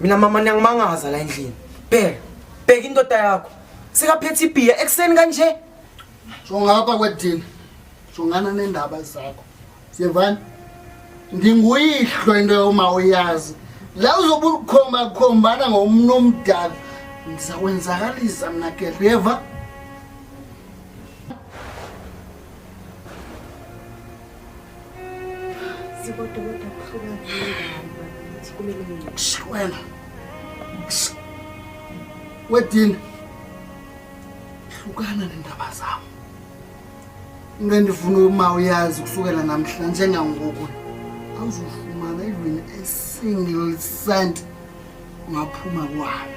mina mama niyangimangaza la endlini bheka bheka indoda yakho sekaphethe ibhiya ekuseni kanje jongapha kwedini jongana nendaba zakho siyevani ndinguyihlo into yoma uyazi la uzobe ulikhomba khombana ngomntu omdala ndizakwenzakalisa mna gereva Wena. Wedini. Hlukana nendaba zami. Into endifuna uma uyazi kusukela namhla njengangoku awuzofumana even a single cent ungaphuma kwayo.